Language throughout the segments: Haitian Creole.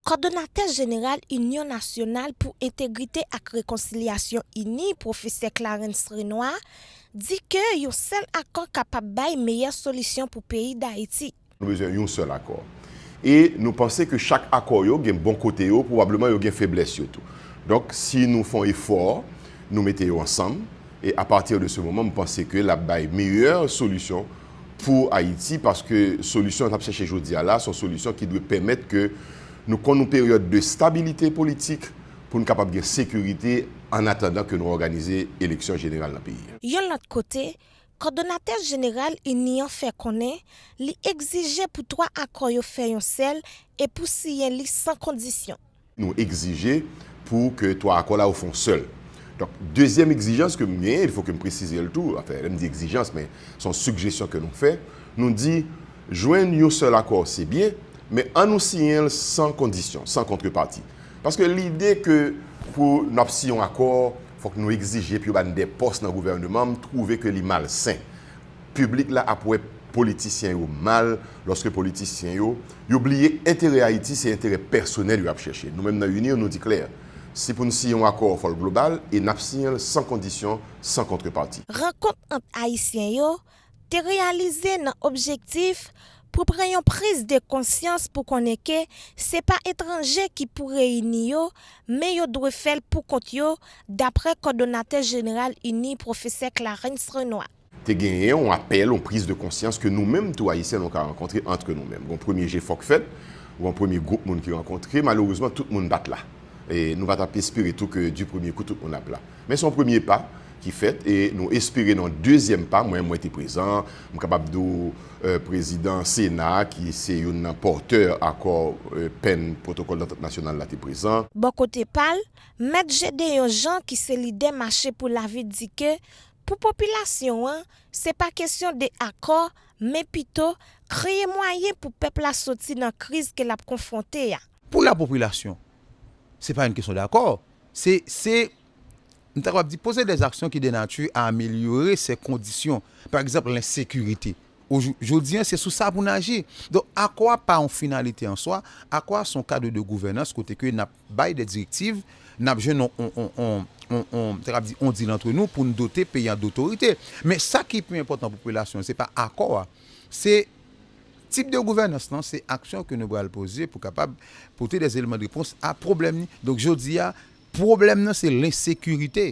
Kòdonatè jeneral Inyon Nasyonal pou Entegrite ak Rekonsilyasyon ini, Pwofesè Clarens Renois, di ke yon sèl akò kapab bay meyè solisyon pou peyi Dayiti. Nou bezwen yon sèl akò. E nou panse ke chak akò yo gen bon kote yo, pwobableman yo gen feblès yo tou. Donk, si nou fon efò, nou mete yo ansanm, e a partir de ce moment, m panse ke l ap bay meyè solisyon pou Ayiti paske solisyon n ap chèche jodi a la se yon solisyon ki dwe pèmèt ke nou konn yon peryòd de stabilite politik pou n kapab gen sekirite ann atandan ke nou òganize eleksyon jeneral nan peyi a. Yon lòt kote, kòdonatè jeneral ini an fè konnen li egzije pou twa akò yo fè yon sèl e pou siyen li san kondisyon. Nou egzije pou ke 3 akò la yo fon sèl. Donk, dezyèm egzijans ke m genyen, il fo ke m presize l tou, anfen, lè m di egzijans, men son sigjesyon ke nou fè, nou di, jwenn yon sèl akò se byen, men an nou siyen l san kondisyon, san kontrepati. Paske lide ke pou n ap siyen yon akò, fòk nou egzije pou yo ba n de pòs nan gouvèneman, m twouve ke li malsen. Piblik la ap wè politisyen yo mal lòske politisyen yo, yo bliye enterè Ayiti se enterè pèsonèl yo ap chèche. Nou menm nan UNIR nou di klè, si pou n siyen yon akò fò l global e n ap siyen l san kondisyon, san kontrepati. Rankont ant Ayisyen yo te reyalize nan objektif pou pran yon priz de konsyans pou konnen ke se pa etranje ki pou reyini yo men yo dwe fè l pou kont yo daprè kòdonatè jeneral UNIR pwofesè Clarens Renois. te genyen yon apèl, yon priz de konsyans ke nou menm tou Ayisyen nou ka rankontre antre nou menm. Gon premye jefò k fèt, gon premye gwoup moun ki rankontre, malerezman tout moun pa t la. E nou pa t ap espere tou ke di premye kou tout moun ap la. Men se yon premye pa ki fèt e nou espere nan yon dezyèm pa, mwen mwen te prezan, m kapab di w prezidan sena a ki se youn nan pòtè akò pen pwotokòl dantant nasyonal la te prezan. Bò kote pa l, mèt Jedeyon Jean ki se lidè Mache pou lavi di ke Pou popilasyon an, se pa kesyon de akò, men pito, kreye mwayen pou pèp la soti nan kriz ke lap konfwonte a. Pou la popilasyon, se pa yn kesyon dakò, se, se, m ta kapab di, poze dè aksyon ki de nati a amelyore sè kondisyon, pa egzanp lensekirite. O jou, jodi an, se sou sa pou n aji. Donk, akò a pa yon finalite an swa, akò a son kadre de gouvènans kote ke nap. Bay de direktiv, n ap jwenn yon sa k ap di yon dil antre nou pou n dote peyi an dotorite. Men sa ki pi enpòtan pou popilasyon an se pa akò a, se tip de gouvènans lan, se aksyon ke nou pral poze pou kapab pote dè eleman de repons a pwoblèm ni. Donk jodi a pwoblèm nan se lensekirite.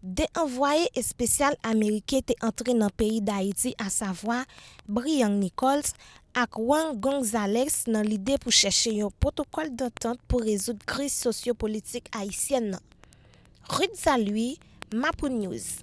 De anvwaye espesyal ameriken te antre nan peyi Dayiti asavwa Briang Nichols ak Juan Gonzalez nan lide pou chèche yon pwotokòl dantant pou rezoud kriz sosyo-politik ayisyèn nan. Ruth Saluy, Mapounews.